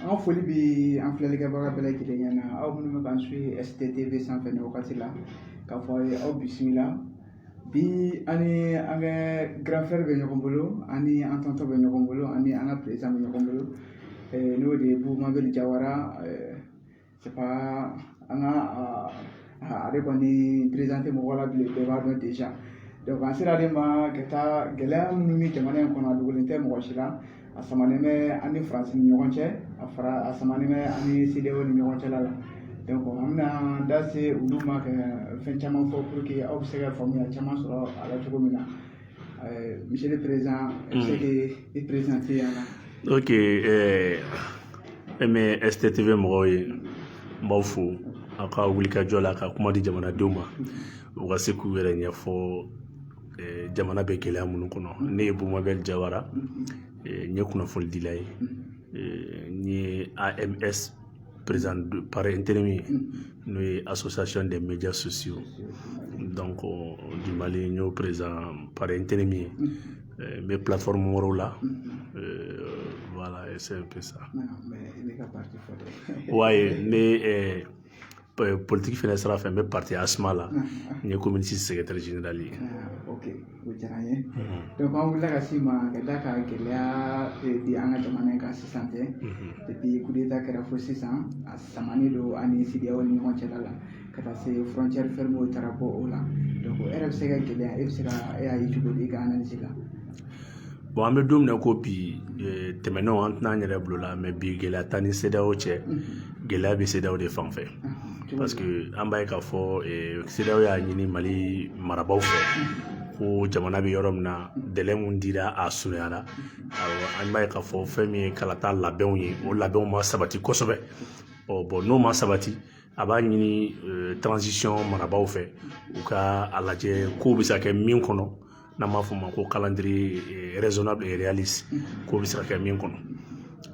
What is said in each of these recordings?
An ka foli bɛ an filɛlikɛbaga bɛɛ lajɛlen ye aw minnu bɛ k'an suivi STTV sanfɛ nin wagati la k'a fɔ aw ye aw bisimila bi an ni an ka granfɛri bɛ ɲɔgɔn bolo an ni an tɔntɔn bɛ ɲɔgɔn bolo an ni an ka perezidan bɛ ɲɔgɔn bolo n'o de ye Bubu Mabɛl Jawara an ka ale kɔni perezante mɔgɔ la bilen bɛɛ b'a dɔn deza an sera ale ma ka da gɛlɛya minnu bɛ jamana in kɔnɔ a dogolen tɛ mɔgɔ si la a samanen bɛ an ni faransi ni ɲɔgɔn cɛ a fara a samanen bɛ an ni sedeyaw ni ɲɔgɔn cɛla la an bɛna an da se olu ma ka fɛn caman fɔ pour que aw bɛ se ka faamuya caman sɔrɔ a la cogo min na Euh, monsieur le Président, i bɛ se k'i présenter an Ok, euh, mais STTV mɔgɔw ye n b'aw fo aw ka wulikajɔ la ka kuma di jamanadenw ma u ka se k'u yɛrɛ ɲɛfɔ eh, jamana bɛ gɛlɛya minnu kɔnɔ ne ye Bubu Mabɛl Jawara eh, n ye kunnafonidila ye eh, n ye AMS président par intérim ye n'o ye association des médias sociaux donc du mali n y'o président par intérim ye n bɛ plateforme wɛrɛw la voilà c'est un peu ça ouais ne politiki fana sira fɛ n bɛ parti asma la n ye commune six secrétaire général ye ok o diyara n ye donc an wulila ka s'i ma ka d'a kan gɛlɛya bɛ an ka jamana in kan sisan tɛ depuis coup d'état kɛra fo sisan a samanen don an ni sedeyaw ni ɲɔgɔn cɛla la ka taa se frontière fermew taara bɔ o la donc e yɛrɛ bɛ se ka gɛlɛya e bɛ se ka e y'a ye cogo di i ka analyse la bɔn an bɛ don min na ko bi tɛmɛnenw an tɛna an yɛrɛ bolo la mais bi gɛlɛya t'an ni sedeyaw cɛ gɛlɛya bɛ sedeyaw de fan fɛ parce que an b'a ye k'a fɔ sedeyaw y'a ɲini mali marabaaw fɛ ko jamana bɛ yɔrɔ min na délai min dira a surunyara an b'a ye k'a fɔ fɛn min ye kalata labɛnw ye o labɛnw ma sabati kosɛbɛ ɔ bɔn n'o ma sabati a b'a ɲini transition marabaaw fɛ u ka a lajɛ k'o bɛ se ka kɛ min kɔnɔ n'an b'a fɔ o ma ko calendrier raisonnable et réaliste k'o bɛ se ka kɛ min kɔnɔ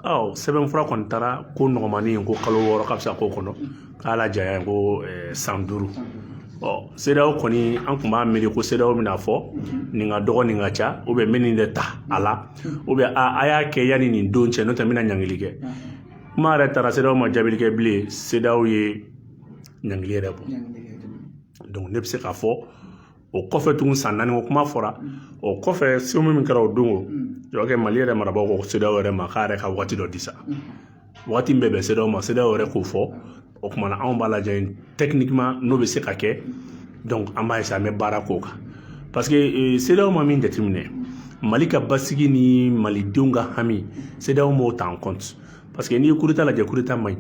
ɔ sɛbɛn fura kɔni taara ko dɔgɔmannin ko kalo wɔɔrɔ k'a bɛ se ka k'o kɔnɔ k'a lajanya ko san duuru ɔ sedeyaw kɔni an tun b'a miiri ko sedeyaw bɛn'a fɔ nin ka dɔgɔ nin ka ca u bɛ min nin de ta a la u bɛ a a y'a kɛ yanni nin don cɛ n'o tɛ n bɛna ɲangili kɛ kuma yɛrɛ taara sedeyaw ma jaabili kɛ bilen sedeyaw ye ɲangili yɛrɛ bɔ donc ne bɛ se k'a fɔ o kɔfɛ tugun san naani ko kuma fɔra o kɔfɛ sommet min kɛra o don o jɔkɛ mali yɛrɛ marabagaw ko sedaw yɛrɛ ma k'a yɛrɛ ka waati dɔ di sa waati bɛ bɛn sedaw ma sedaw yɛrɛ k'o fɔ o kuma na anw b'a lajɛ tɛkinikima n'o bɛ se ka kɛ donc an b'a ye sa an bɛ baara k'o kan parce que euh, sedaw ma min jateminɛ mali ka basigi ni malidenw ka hami sedaw m'o ta en compte parce que n'i ye kudeta lajɛ kudeta man ɲi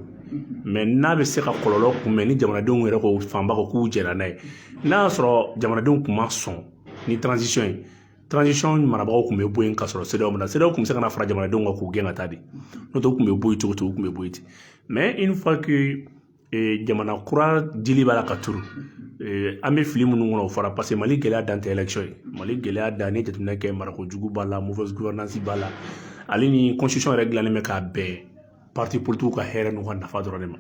mɛ n'a bɛ se ka kɔlɔlɔ kunbɛn ni jamanadenw yɛrɛ ko fanba ko k'u jɛnna n'a ye n'a y'a sɔrɔ jamanadenw tun ma sɔn ni transition ye transition marabagaw tun bɛ bɔ yen ka sɔrɔ CEDEAO ma na CEDEAO tun bɛ se ka na fara jamanadenw kan k'u gɛn ka taa de n'o tɛ u tun bɛ bɔ yen cogo cogo u tun bɛ bɔ yen ten mais une fois que eh, jamana kura dili b'a la ka turu eh, an bɛ fili minnu kɔnɔ o fara parce que mali gɛlɛya dan tɛ élection ye mali gɛlɛya dan n'i ye jateminɛ kɛ marako jugu b'a la mauvaise gouvernance b'a la hali nin constitution yɛrɛ dilannen bɛ k'a bɛn parti politikiw ka hɛrɛ n'u ka nafa dɔrɔn de ma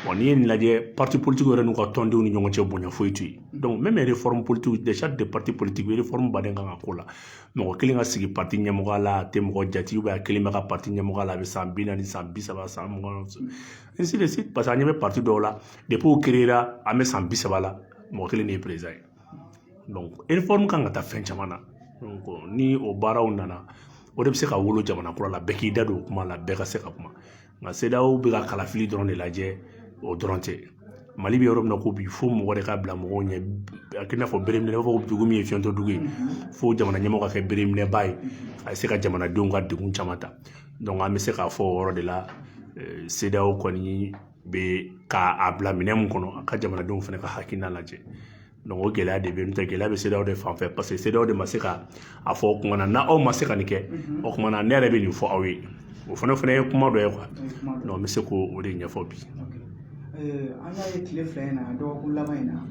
bon n'i ye nin lajɛ parti politique yɛrɛ n'u ka tɔndenw ni ɲɔgɔn cɛ bonya foyi tɛ yen donc même réforme politique déjà de parti politique réforme ba de kan ka k'o la mɔgɔ kelen ka sigi parti ɲɛmɔgɔya la a tɛ mɔgɔ jate ou bien a kelen bɛ kɛ parti ɲɛmɔgɔya la a bɛ san bi naani san bi saba san mugan ainsi de suite parce que an ɲɛ bɛ parti dɔw la depuis o créera an bɛ san bi saba la mɔgɔ kelen de ye président ye kan ka taa fɛn caman na ni o baaraw nana o de bɛ se ka wolo jamana kura la bɛɛ k'i da don o kuma la bɛɛ ka se ka kuma nka CEDEAO bɛ ka kalafili dɔrɔn de lajɛ o dɔrɔn tɛ mali bɛ yɔrɔ min na ko bi fo mɔgɔ de ka bila mɔgɔw ɲɛ a k'i n'a fɔ bereminɛbaa fo dugu min ye fiyɛntɔ dugu ye fo jamana ɲɛmɔgɔ ka kɛ bereminɛbaa ye a bɛ se ka jamanadenw ka degun caman ta an bɛ se k'a fɔ o yɔrɔ de la CEDEAO kɔni bɛ ka a bila minɛn min kɔnɔ a ka jamanadenw fana ka hakilina lajɛ donc o gɛlɛya de bɛ yen n'o tɛ gɛlɛya bɛ CEDEAO de fan fɛ paseke CEDEAO de ma se ka a fɔ o kuma na n'aw ma se ka nin kɛ o kuma na ne yɛrɛ bɛ nin fɔ aw ye o fana fana ye kuma dɔ ye quoi n bɛ se k'o de ɲɛfɔ bi. an y'a ye tile fila in na dɔgɔkun laban in na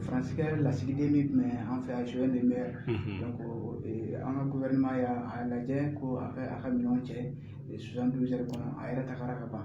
faransi ka lasigiden min tun bɛ an fɛ yan Joël Meyer an ka gofɛrɛnaman y'a lajɛ ko a ka a ka minɛnw cɛ soixante-douze heures kɔnɔ a yɛrɛ tagara ka ban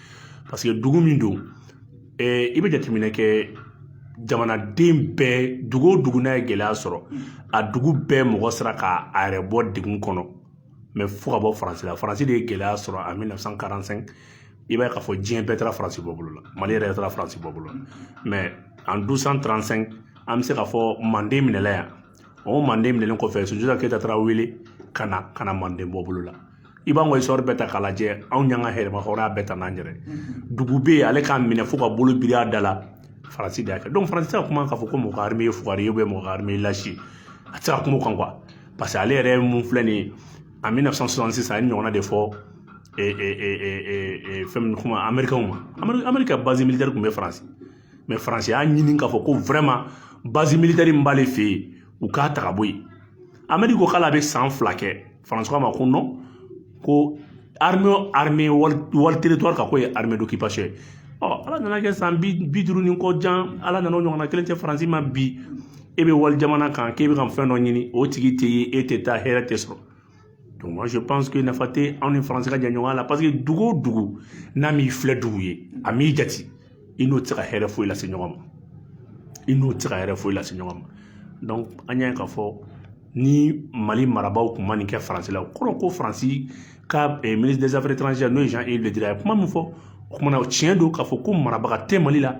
paseke dugu min don i bɛ jateminɛ kɛ jamanaden bɛɛ dugu o dugu n'a ye gɛlɛya sɔrɔ a dugu bɛɛ mɔgɔ sera ka a yɛrɛ bɔ degun kɔnɔ mɛ fo ka bɔ faransi la faransi de ye gɛlɛya sɔrɔ en 1945 i b'a ye k'a fɔ diɲɛ bɛɛ taara faransi bɔ bolo la mali yɛrɛ taara faransi bɔ bolo la mɛ en 1235 an bɛ se k'a fɔ manden minɛla yan o manden minɛlen kɔfɛ sunjata keyita taara wele ka na ka na manden bɔ bolo la i b'an ka histoire bɛɛ ta k'a lajɛ anw y'an ka yɛrɛmahɔrɔnya bɛɛ ta n'an yɛrɛ dugu bɛ yen ale k'a minɛ fo ka bolo biri a da la faransi de y'a kɛ donc faransi tɛ se ka kuma k'a fɔ ko mɔgɔ ka arme ye fugari ye mɔgɔ ka arme ye lâche ye a tɛ se ka kuma o kan quoi parce que ale yɛrɛ min filɛ nin ye en 1966 a y'a ɲɔgɔnna de fɔ fɛn min kuma américainw ma amérique ka base militaire tun bɛ faransi mais faransi y'a ɲini k'a fɔ ko vraiment base militaire min b'ale fɛ yen u k'a ta ka bɔ yen amérique ko k'ale a bɛ san fila kɛ Faransi k'a ma ko non ko walitiriri ka ko ye hamidu k'i paseke ye ɔ ala nana kɛ san bi duuru ni kɔ jan ala nana ɲɔgɔnna kelen ci faransi ma bi e bɛ wali jamana kan k'e bɛ ka fɛn dɔ ɲini o tigi tɛ ye e tɛ taa hɛrɛ tɛ sɔrɔ donc moi je pense que nafa tɛ anw ni faransi ka jɛɲɔgɔnya la parce que dugu o dugu n'a m'i filɛ dugu ye a m'i jate i n'o tɛ se ka hɛrɛ foyi lase ɲɔgɔn ma i n'o tɛ se ka hɛrɛ foyi lase ɲɔgɔn ma donc an y'a ye k'a fɔ ni mali marabaaw tun ma nin kɛ faransi la o kɔrɔ ko faransi ka eh, ministre des affaires étrangères n'o ye jean yves le drian ye kuma min fɔ o kuma nin o tiɲɛ don k'a fɔ ko marabaga tɛ mali la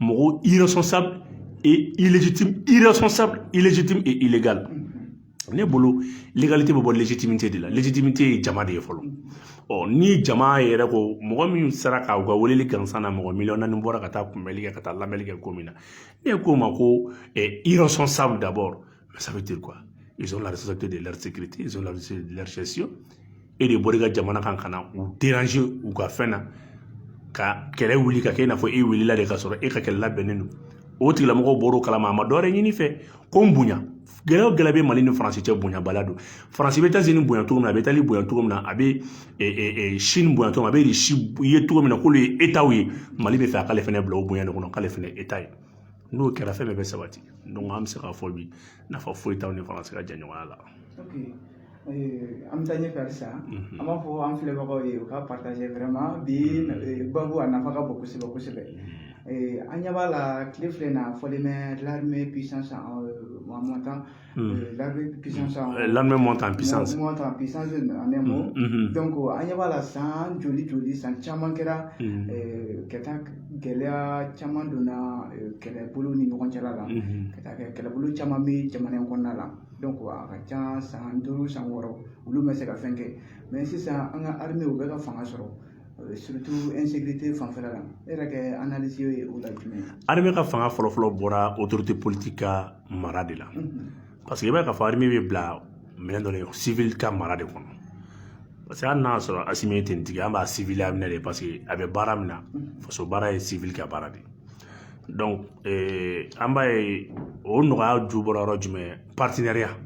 mɔgɔ irresponsable et illégitime irresponsable illégitime et illégal ne bolo légalité bɛ bɔ légitimité de la légitimité ye jama de ye fɔlɔ ɔ ni jama yɛrɛ ko mɔgɔ min sera ka u ka weleli gansan na mɔgɔ miliyɔn naani bɔra ka taa kunbɛli kɛ ka taa lamɛnli kɛ ko min na ne ko o ma ko eh, irresponsable d'abord ça veut dire quoi ils ont la responsabilité de leur sécurité ils ont la responsabilité de leur gestion e de bɔra i ka jamana kan ka na u déranger u ka fɛn na ka kɛlɛ wuli ka kɛ i n'a fɔ e wulila de ka sɔrɔ e ka kɛlɛ labɛnnen don o tigilamɔgɔw bɔr'o kalama a ma dɔwɛrɛ ɲin'i fɛ ko n bonya gɛlɛya o gɛlɛya bɛ mali ni faransi cɛ bonyabaliya don faransi bɛ etazini bonya cogo min na a bɛ itali bonya cogo min na a bɛ sini bonya cogo min na a bɛ irisi ye cogo min na k'olu ye etaw ye mali b'a fɛ a k'ale fana bila o bonya de kɔnɔ k'ale fana ye eta ye n'o kɛra fɛn bɛɛ bɛ sabati donc an bɛ se k'a fɔ bi nafa foyi t'anw ni faransi ka jɛɲɔgɔnya la eh, an bɛ taa ɲɛfɛ halisa mhm. an b'a fɔ an filɛbagaw ye u ka partager vraiment bi mhm. eh, babu a nafa ka bon kosɛbɛ kosɛbɛ mhm. eh, an ɲɛ b'a la tile fila in na fɔlen bɛ l'armée puissance en montant L'armée monte en puissance an ɲɛ b'a la san joli joli san caman kɛra ka taa gɛlɛya caman donna kɛlɛbolo ni ɲɔgɔn cɛ la ka taa kɛ kɛlɛbolo caman bɛ jamana in kɔnɔna la a ka ca san duuru san wɔɔrɔ olu ma se ka fɛn kɛ mais sisan an ka armew bɛ ka fanga sɔrɔ fanfɛla la e yɛrɛ kɛ ye o la jumɛn ye ka fanga fɔlɔfɔlɔ bɔra o tɛ politigi ka mara de la parce que i b'a ye k'a fɔ armée bɛ bila minɛn dɔ de civil ka mara de kɔnɔ parce que hali n'a sɔrɔ asimi ye tenitigi an b'a civilya minɛ de parce que a bɛ baara min na faso baara ye civil ka baara de ye donc eh, an b'a ye o nɔgɔya ju bɔra yɔrɔ jumɛn partenariat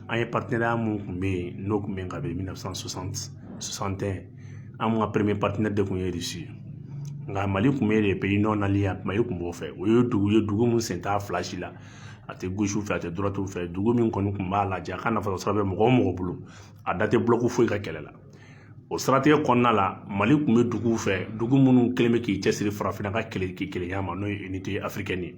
an ye partenariat mun tun bɛ yen n'o tun bɛ yen ka bɛn 1960 61 anw ka premier partenaire de tun ye irisi ye nka mali tun bɛ les pays non alignés mali tun b'o fɛ o ye dugu ye dugu min sen t'a fila si la a tɛ gauchew fɛ a tɛ droitew fɛ dugu min kɔni tun b'a lajɛ a ka nafa sɔrɔ bɛ mɔgɔ o mɔgɔ bolo a da tɛ bulɔku foyi ka kɛlɛ la o siratigɛ kɔnɔna la mali tun bɛ duguw fɛ dugu minnu kɛlen bɛ k'i cɛsiri farafinna ka kele kelenya ma n'o ye unité africaine ye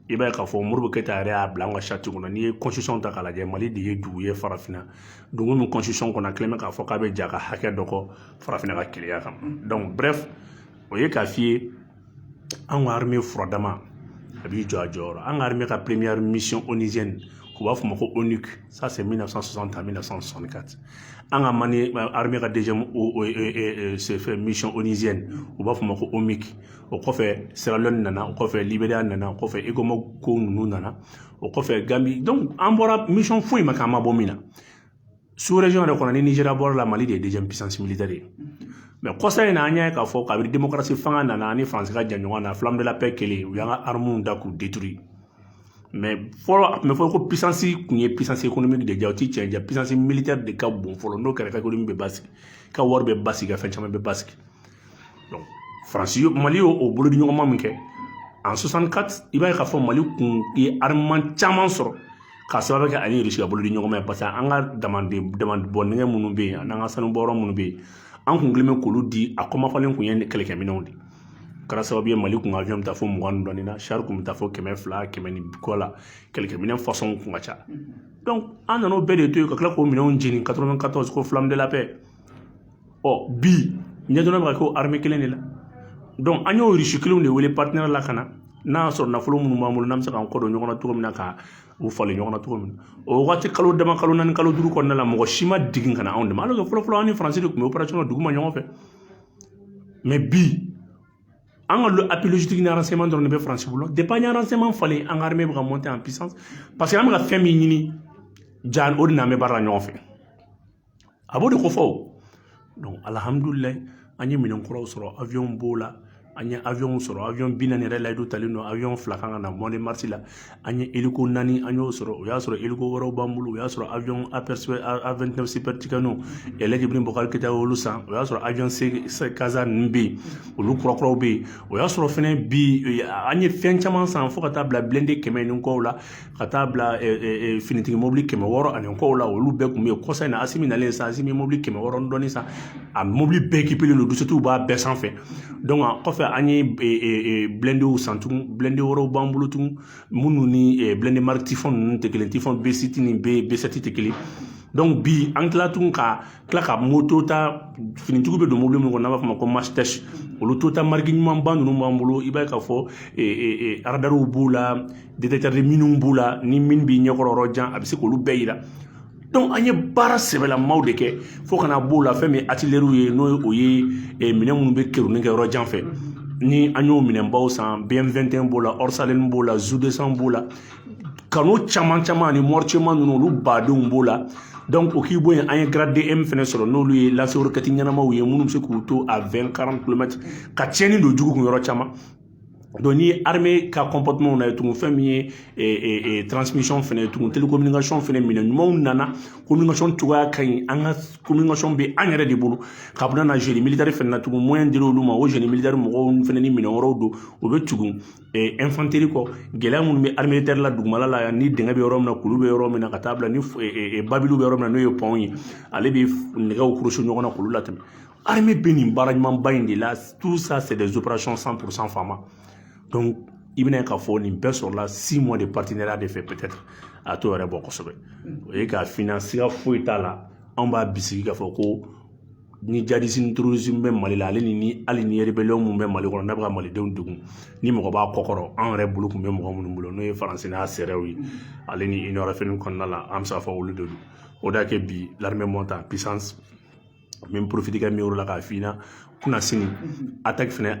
i b'a ye k'a fɔ modibo keyita yɛrɛ y'a bila an ka sati kɔnɔ n'i ye constitution ta k'a lajɛ mali de ye dugu ye farafinna dugu min constitution kɔnɔ a kɛlen bɛ k'a fɔ k'a bɛ jɛn a ka hakɛ dɔ kɔ farafinna ka kelenya kan donc bref o ye k'a f'i ye an ka armée furadama a b'i jɔ a jɔyɔrɔ an ka armée ka première mission onusienne u b'a fɔ ma ko onuc ça c'est 1960 à 1964 an ka mali armée ka deuxième fɛ mission onusienne u b'a fɔ ma ko omic o kɔfɛ sierra leone nana o kɔfɛ liberiya nana o kɔfɛ ecomog ninnu nana o kɔfɛ gambi donc an bɔra mission foyi ma k'an ma bɔ min na sous région yɛrɛ kɔnɔ ni nigéria bɔra la mali de ye deuxième puissance militaire ye mais kɔsa in na an y'a ye k'a fɔ kabiri démocratie fanga nana ani faransi ka jɛɲɔgɔnya flamme de la paix kɛlen u y'an ka armuw ta k'u détruire mais fɔlɔ a tun bɛ fɔ ko puissance tun ye puissance économique de ja o ti tiɲɛ ja puissance militaire de ka bon fɔlɔ n'o kɛra ka économie bɛ basigi ka wari bɛ basigi ka fɛn caman bɛ basigi faransi mali y'o o bolodiɲɔgɔnma min kɛ en 64 i b'a ye k'a fɔ mali kun ye armement caman sɔrɔ k'a sababu kɛ a ni irisi ka bolodiɲɔgɔnma ye parce que an ka damanden damandibɔ nɛgɛ minnu bɛ yen an'an ka sanubɔyɔrɔ minnu bɛ yen an kun kɛlen bɛ k'olu di a kɔmafalen kun ye ni kɛlɛkɛminɛnw de kɛra sababu ye mali kun ka avion bɛ taa fo mugan ni dɔɔni na shari kun bɛ taa fo kɛmɛ fila kɛmɛ ni kɔ la kɛlɛkɛminɛn fasɔnw kun ka ca donc an nan'o bɛɛ de to yen ka tila k'o minɛnw jeni 94 ko flamme de la paix ɔ bi ɲɛdɔnna bɛ ka k'o armée kelen de la donc an y'o russe kelenw de wele partenaire la ka na n'a y'a sɔrɔ nafolo minnu b'an bolo n'an bɛ se k'an kɔ don ɲɔgɔn na cogo min na ka u falen ɲɔgɔn na cogo min na o waati kalo dama kalo naani kalo duuru kɔnɔna la mɔgɔ si ma jigin ka na anw dɛmɛ alors que fɔlɔ fɔlɔ an ni faransi de tun bɛ opération dugu ma ɲɔgɔn fɛ mais bi an ka appui logistique ni renseignement dɔrɔn de bɛ faransi bolo depuis an ye renseignement falen an ka armée bɛ ka monter en puissance parce que an bɛ ka fɛn min ɲini ja o de n'an bɛ baara la ɲɔgɔn fɛ a b'o de kofɔ o donc alihamudulilayi an ye minɛn kuraw sɔrɔ awiyɔnw b'o la an ye awiyɔnw sɔrɔ awiyɔn bi naani yɛrɛ layidu talen don awiyɔn fila kan ka na mois de mars la an ye eliko naani an y'o sɔrɔ o y'a sɔrɔ eliko wɛrɛw b'an bolo o y'a sɔrɔ awiyɔn apɛrisipɛ a29 super tucanow ɛlaji ibrahim bubakari keyita y'olu san o y'a sɔrɔ awiyɔn se kaza ninnu bɛ yen olu kurakuraw bɛ yen o y'a sɔrɔ fɛnɛ bi an ye fɛn caman san fo ka taa bila bilende kɛmɛ ni kɔw la ka taa bila finitigi mobili kɛmɛ wɔɔrɔ ani kɔw la olu bɛɛ tun bɛ yen kɔsa in na asimi nalen sa asimi mobili kɛmɛ wɔɔrɔ dɔɔni sa a mobili bɛɛ ekipelen don duzisɛtiw b'a bɛɛ sanfɛ a kɔfɛ an ye bilendew san tugun bilende wɛrɛw b'an bolo tugun minnu ni bilende mariki tifɔn ninnu tɛ kelen tifɔn besisi ni besɛti tɛ kelen bi an tila tun ka kila ka moto ta finitigiw bɛ don mobili min kɔnɔ n'a b'a fɔ o ma ko masitɛki olu toyota mariki ɲumanba ninnu b'an bolo i b'a ye k'a fɔ aradariw b'u la detetɛri miniw b'u la ni min b'i ɲɛkɔrɔ yɔrɔ jan a bɛ se k'olu bɛɛ yira donc an ye baara sɛbɛlamaw de kɛ fo ka na b'o la fɛn min atileriw ye n'o o ye minɛn minnu bɛ kerunni kɛ yɔrɔ jan fɛ ni an y'o minɛnbaw san bm21 b'o la ɔrigi sitalini b'o la zudesan b'o la kanɔn caman caman ani mɔricema ninnu olu badenw b'o la donc o k'i bɔ yen an ye grad m fɛnɛ sɔrɔ n'olu ye lance-roquette ɲɛnamaw ye minnu bɛ se k'u to a 20 40 kilomɛtr ka tiɲɛni don jugu kun yɔrɔ caman donc ni ye armée ka comportement na ye tugun fɛn min ye e, e, e, transmission fɛnɛ ye tugun télécommunication fɛnɛ minɛn ɲumanw nana communication cogoya ka ɲi an ka communication bɛ an yɛrɛ de bolo ka bɛna na génie militaire fɛnɛ na tugun moyen dira olu ma o génie militaire mɔgɔw fɛnɛ ni minɛn wɛrɛw don o bɛ tugun ɛnfanteri kɔ gɛlɛya minnu bɛ armée de terre la dugumala la ni dingɛ bɛ yɔrɔ min na kulu bɛ yɔrɔ min na ka taa bila ni babiliw bɛ yɔrɔ min na n'o ye pɔnw ye ale bɛ nɛgɛw kurusi ɲɔgɔn na k'olu latɛmɛ arime bɛ nin baara ɲumanba in de la tout ça c'est des opérations 100% fama donc i bɛna ye k'a fɔ nin bɛɛ sɔrɔla six mois de partenariat de fɛ peut-être a t'o yɛrɛ bɔ kosɛbɛ o ye k'a f'i ɲɛna siga foyi t'a la anw b'a bisigi k'a fɔ ko ni jadisi ni tɛrorisimu bɛ mali la ale ni hali ni erebɛliw minnu bɛ mali kɔnɔ n'a bɛ ka malidenw degun ni mɔgɔ b'a kɔkɔrɔ anw yɛrɛ bolo tun bɛ mɔgɔ minnu bolo n'o ye faransi n'a sɛrɛw ye ale ni union européenne kɔnɔna la an bɛ se k'a fɔ olu de don o de y'a kɛ bi l'armée monte en puissance n bɛ porofiti kɛ nin yɔrɔ la k'a f'i ɲɛna kunasini ataki fɛnɛ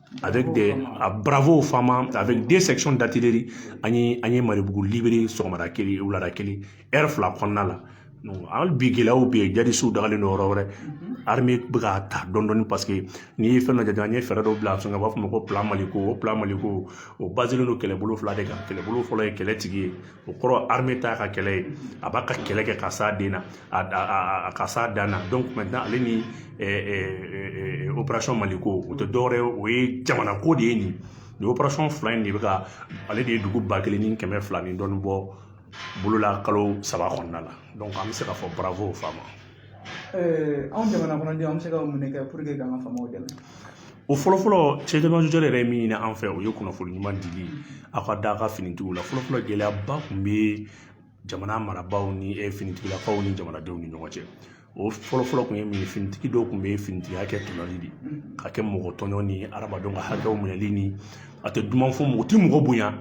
avec des a bravo fama avec des sections d'artillerie an ye an ye marebugu libere sɔgɔmada kelen wulada kelen heure fila kɔnɔna la hali bi gɛlɛyaw bɛ yen jadisiw dagalen don yɔrɔ wɛrɛ armée bɛ k'a ta dɔɔni dɔɔni parce que n'i ye fɛn dɔ jate an ye fɛɛrɛ dɔ bila sen kan u b'a fɔ o ma ko plan maliko o plan maliko o baselen don kɛlɛbolo fila de kan kɛlɛbolo fɔlɔ ye kɛlɛtigi ye o kɔrɔ armée ta ka kɛlɛ ye a b'a ka kɛlɛ kɛ ka s'a den na a ka s'a dan na donc maintenant ale ni opération maliko o tɛ dɔwɛrɛ ye o ye jamana ko de ye nin nin opération fila in de bɛ ka ale de ye dugu ba kelen ni kɛmɛ fila ni dɔɔnin bɔ bolo la kalo saba kɔnɔna la donc an bɛ se k'a fɔ bravo aux fama anw jamana kɔnɔdenw an bɛ se ka mun de kɛ puruke k'an ka faamaw dɛmɛ o fɔlɔfɔlɔ cɛjɔjɔ yɛrɛ ye min ɲini an fɛ o ye kunnafoni ɲuman dili aw ka da ka finitigiw la fɔlɔfɔlɔ gɛlɛyaba tun bɛ jamana marabaaw ni finitigilakaw ni jamanadenw ni ɲɔgɔn cɛ o fɔlɔfɔlɔ tun ye min ye finitigi dɔw tun bɛ finitigiya kɛ tɔɲɔli de ka kɛ mɔgɔ tɔɲɔ ni hadamadenw ka hakɛw minɛli ni a tɛ duman fɔ mɔgɔ tɛ mɔgɔ bonya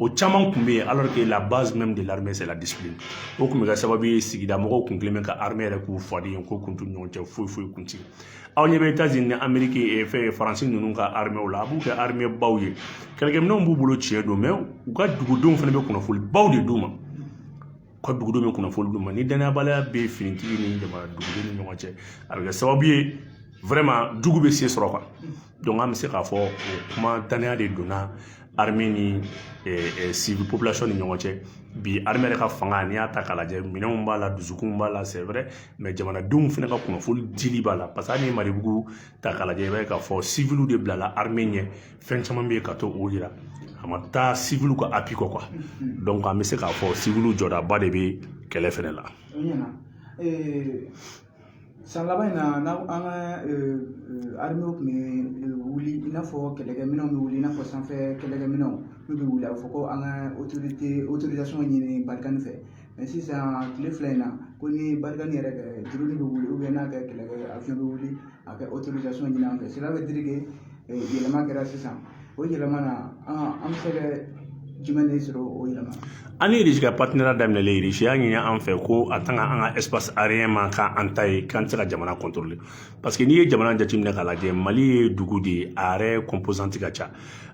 O caman tun bɛ yen alors que la base même de l'armée c'est la discipline o tun bɛ kɛ sababu ye sigida mɔgɔw tun kɛlen bɛ ka armée yɛrɛ k'u faden ko kun t'u ni ɲɔgɔn cɛ foyi foyi kun tɛ aw ɲɛ bɛ Etats-Unis ni Amérique eh, fɛn Faransi ninnu ka armée la a b'u kɛ armée baw ye kɛlɛkɛminɛnw b'u bolo tiɲɛ don mais u ka dugudenw fana bɛ kunnafoli baw de d'u ma u ka dugudenw bɛ kunnafoli d'u ma ni danayabaliya bɛ finitigi ni jamana duguden ni ɲɔgɔn cɛ a bɛ kɛ sababu ye vraiment jugu bɛ se sɔrɔ quoi an bɛ se k'a fɔ o kuma danaya de donna armée ni civil population ni ɲɔgɔn cɛ bi armée yɛrɛ ka fanga n'i y'a ta k'a lajɛ minɛnw b'a la dusukun b'a la c'est vrai mais jamanadenw fana ka kunnafoni dili b'a la parce que hali ni Maribugu ta k'a lajɛ i b'a ye k'a fɔ civil de bilala armée ɲɛ fɛn caman bɛ yen ka to o jira a ma taa civil ka appui kɔ quoi donc an bɛ se k'a fɔ civil jɔdaba de bɛ kɛlɛ fana la. san laban in na ni an ka armew tun bɛ wuli i n'a fɔ kɛlɛkɛminɛnw bɛ wuli i n'a fɔ sanfɛ kɛlɛkɛminɛnw n'u bɛ wuli a bɛ fɔ ko an ka autorisation ɲini Barkhane fɛ mais sisan kile fila in na ko ni Barkhane yɛrɛ ka drone bɛ wuli n'a ka kɛlɛkɛ avion bɛ wuli a ka autorisation ɲini an fɛ cela veut dire que yɛlɛma kɛra sisan o yɛlɛma na an an bɛ se ka jumɛn de sɔrɔ o yɛlɛma an ni Irisi ka partenariat daminɛlen Irisi y'a ɲini an fɛ ko a tant que an ka espace aérien ma kɛ an ta ye k'an tɛ se ka jamana contrôler parce que n'i ye jamana jateminɛ k'a lajɛ Mali ye dugu de ye a yɛrɛ composante ka ca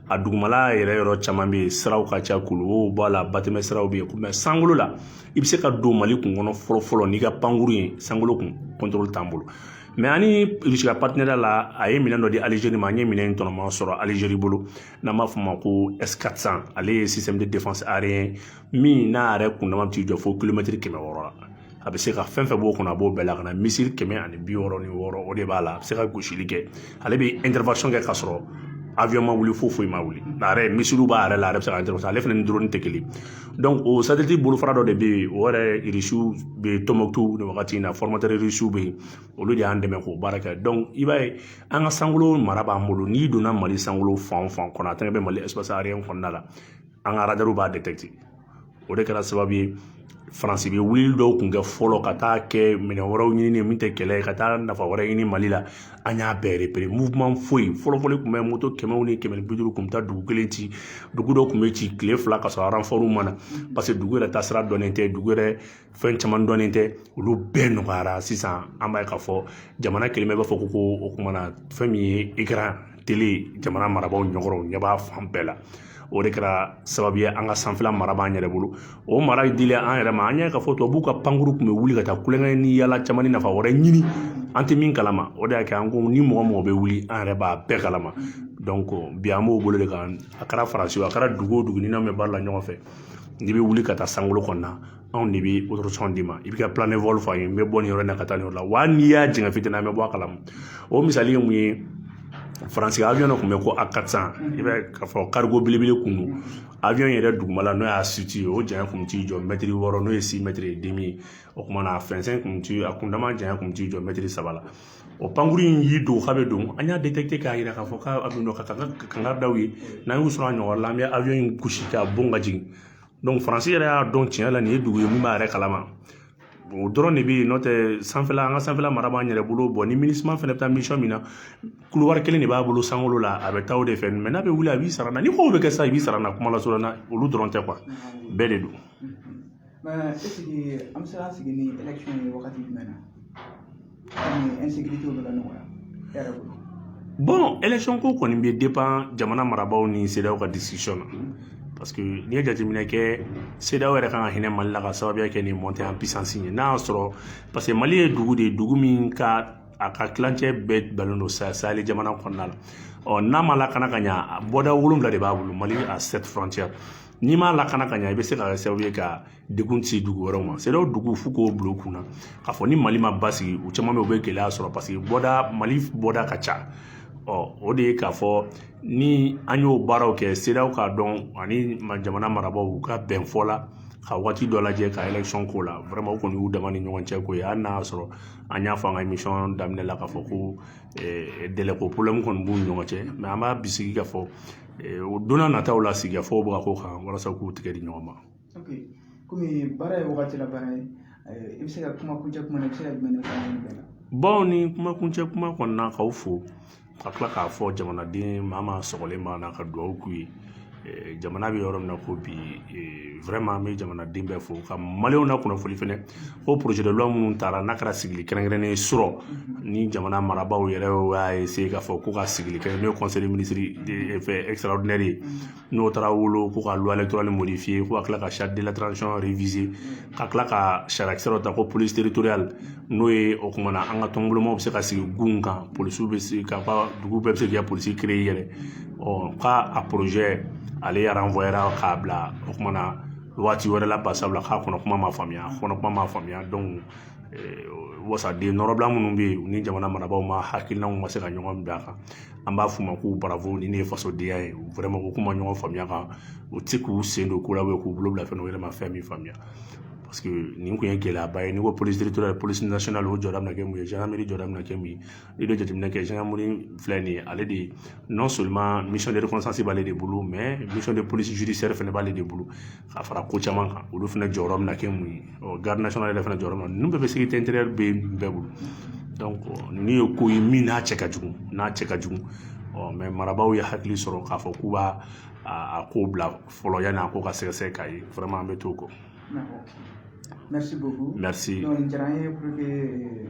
a dugumala yɛrɛ yɔrɔ caman bɛ yen siraw ka ca kuluwow b'a la batɛmɛ siraw bɛ yen mais sankolo la i bɛ se ka don Mali kun kɔnɔ fɔlɔfɔlɔ n'i ka pankurun ye sankolo kun contrôle t'an bolo mais an ni irisi ka partenariat la a ye minɛn dɔ di alizeri ma an ye minɛn in tɔgɔma sɔrɔ alizeri bolo n'an b'a fɔ ma ko s400 ale ye système de défense aérien min n'a yɛrɛ kundama t'i jɔ fo kilomɛtiri kɛmɛ wɔɔrɔ la a bɛ se ka fɛn fɛn b'o kɔnɔ a b'o bɛɛ lakana missile kɛmɛ ani bi wɔɔrɔ ni wɔɔrɔ o de b'a la a bɛ se ka gosili kɛ ale bɛ intervention kɛ ka sɔrɔ avion ma wuli fo foyi ma wuli a yɛrɛ missilew b'a yɛrɛ la a yɛrɛ bɛ se ka intervention ale fana ni drone tɛ kelen o satellite bolofara dɔ de bɛ yen o yɛrɛ irisiw bɛ tɔnbukutu nin wagati in na irisiw bɛ yen olu de y'an dɛmɛ k'o baara kɛ i b'a ye an ka sankolo mara b'an bolo n'i donna mali sankolo fan o fan kɔnɔ a tɛgɛ bɛ mali kɔnɔna la an ka aradariw b'a o de kɛra sababu ye faransi bɛ wulili dɔw kun kɛ fɔlɔ ka taa kɛ minɛn wɛrɛw ɲini min tɛ kɛlɛ ye ka taa nafa wɛrɛ ɲini mali la an y'a bɛɛ repere muweman foyi fɔlɔfɔlɔ kun bɛ moto kɛmɛw ni kɛmɛ ni bi duuru kun bɛ taa dugu kelen ci dugu dɔ kun bɛ ci tile fila ka sɔrɔ aranfɔriw ma na paseke dugu yɛrɛ taasira dɔnnen tɛ dugu yɛrɛ fɛn caman dɔnnen tɛ olu bɛɛ nɔgɔyara sisan an b'a ye k'a fɔ jamana kɛlen bɛ b'a fɔ ko ko o kumana fɛn min ye ekran tele jamana marabaaw ɲɛkɔrɔ ɲɛ b'a fan bɛɛ la o de kɛra sababu ye an ka sanfɛla mara b'an yɛrɛ bolo o mara dilen an yɛrɛ ma an y'a ye k'a fɔ tubabuw ka pankuru kun bɛ wuli ka taa kulonkɛ ni yaala caman ni nafa wɛrɛ ɲini an tɛ min kalama o de y'a kɛ an ko ni mɔgɔ mɔgɔ bɛ wuli an yɛrɛ b'a bɛɛ kalama donc bi an b'o bolo de kan a kɛra faransi a kɛra dugu o dugu ni n'an bɛ baara la ɲɔgɔn fɛ n'i bɛ wuli ka taa sankolo kɔnɔna anw de b'a d'i ma i bɛ k'a fɔ an ye n bɛ bɔ nin yɔrɔ in na ka taa nin yɔrɔ la wa n'i y'a jigin fitini an bɛ bɔ a kalama o misali ye mun ye faransi avion dɔ tun bɛ ko A quatre cents i bɛ k'a fɔ karigo belebele kun don avion yɛrɛ dugumala n'o y'a suti ye o janya kun t'i jɔ mɛtiri wɔɔrɔ n'o ye si mɛtiri e demi ye o kumana a fɛnsɛn kun ti a kundama janya kun t'i jɔ mɛtiri saba la o pankuru in y'i dogo k'a bɛ don an y'a detɛkite k'a yira k'a fɔ k'a bɛ don ka kankari da u ye n'an y'u sɔrɔ a ɲɔgɔn la an bɛ avion in gosi k'a bon k'a jigin donc faransi yɛrɛ y'a dɔn tiɲɛ la nin ye dugu ye min b'a yɛrɛ kalama o dɔrɔn de bɛ yen n'o tɛ sanfɛla an ka sanfɛla mara b'an yɛrɛ bolo bɔn ni minisima fana bɛ taa misiyɔn min na kulowari kelen de b'a bolo sankolo la a bɛ taa o de fɛ mɛ n'a bɛ wuli a b'i sara an na ni kow bɛ kɛ sa i b'i sara an na kuma lasurunya na olu dɔrɔn tɛ kuwa a bɛɛ de don. mɛ esike an bɛ se ka sigi ni election ye wagati jumɛn na. bɔn election ko kɔni bɛ depan jamana marabaaw ni sedeyawo ka décision na parce que n'i ye jateminɛ kɛ sedeyawo yɛrɛ ka kan ka hinɛ mali la ka sababuya kɛ nin mɔntɛ an pisansi ye n'a y'a sɔrɔ parce que mali ye dugu de ye dugu min ka a ka tilancɛ bɛɛ balen don saheli jamana kɔnɔna la ɔ n'a ma lakana ka ɲa bɔda wolonwula de b'a bolo mali a sept frontière n'i m'a lakana ka ɲa i bɛ se ka kɛ sababu ye ka degun se dugu wɛrɛw ma sedeyawo dugu fo k'o bila u kun na k'a fɔ ni mali ma basigi u caman bɛ u bɛ gɛlɛya sɔrɔ parce que bɔda mali bɔda ka ca ɔ o de ye k'a fɔ ni an y'o baaraw kɛ sedeyawo k'a dɔn ani jamana marabaaw ka bɛn fɔ la ka waati dɔ lajɛ ka election k'o la vraiment o kɔni y'u dama ni ɲɔgɔn cɛ ko ye hali n'a y'a sɔrɔ an y'a fɔ an ka émission daminɛ la k'a fɔ ko eh, dɛlɛko problème kɔni b'u ni ɲɔgɔn cɛ mais an b'a bisigi k'a fɔ eh, o don nataw la sigikafɔw bɛ ka k'o kan walasa k'u tɛgɛ di ɲɔgɔn ma kɔmi baara ye wagati la baara ye eh, i bɛ se ka kuma kuncɛ kuma na i bɛ se ka jumɛn de fɔ an bɛɛ la bɔn ni kuma kuncɛ kuma kɔnɔna k'aw fo ka tila k'a fɔ jamanaden maa maa sɔgɔlen b'a na ka dugawu k'u ye eh, jamana bɛ yɔrɔ min na ko bi eh, vraiment an bɛ jamanaden bɛɛ fo ka maliyɛnw na kunnafoni fɛnɛ ko projet de loi minnu tara n'a kɛra sigili kɛrɛnkɛrɛnnen ye su rɔ nin jamana marabaaw yɛrɛ y'a essayer k'a fɔ ko ka sigili kɛ n'o ye conseil de ministre fɛ extraordinaire ye n'o taara wolo ko ka luwa dɔrɔn modifiye ko ka tila ka sariya dila ka tila ka sariyakisɛ dɔ ta ko polisi teritoriali n'o ye o kumana an ka tɔnbolomaw bɛ se ka sigi gun kan polisiw bɛ se ka ka dugu bɛɛ bɛ se k'i ka polisi kere yɛrɛ ɔ k'a a porozɛ ale yaranfɔyera k'a bila o kumana waati wɛrɛ la sabula k'a kɔnɔ kuma ma faamuya kɔnɔ kuma ma faamuya donc wasaden nɔrɔbila minnu bɛ yen u ni jamana marabaaw ma hakilinaw ma se ka ɲɔgɔn bila a kan an b'a f'u ma ko bravo nin de ye fasodenya ye vraiment ko k'u ma ɲɔgɔn faamuya kan u tɛ k'u sen don ko la u k'u bolo bila fɛn u yɛrɛ ma fɛn min faamuya parce que nin kun ye gɛlɛyaba ye n'i ko polisi territorial polisi national o jɔda bɛna kɛ mun ye gendarmerie jɔda bɛna kɛ mun ye i bɛ jateminɛ kɛ gendarmerie filɛ nin ye ale de non seulement mission de reconnaissance b'ale de bolo mais mission de police judiciaire fana b'ale de bolo ka fara ko caman kan olu fana jɔyɔrɔ bɛna kɛ mun ye ɔ garde national yɛrɛ fana jɔyɔrɔ min ninnu bɛɛ bɛ sécurité intérieure bɛ bɛɛ bolo donc ninnu ye ko ye min n'a cɛ ka jugu n'a cɛ ka jugu ɔ mais marabaaw ye hakili sɔrɔ k'a fɔ k'u b'a a ko bila fɔlɔ yanni a ko ka sɛgɛsɛgɛ k'a ye vraiment an bɛ t'o kɔ merci beaucoup merci donc diyara an ye pour que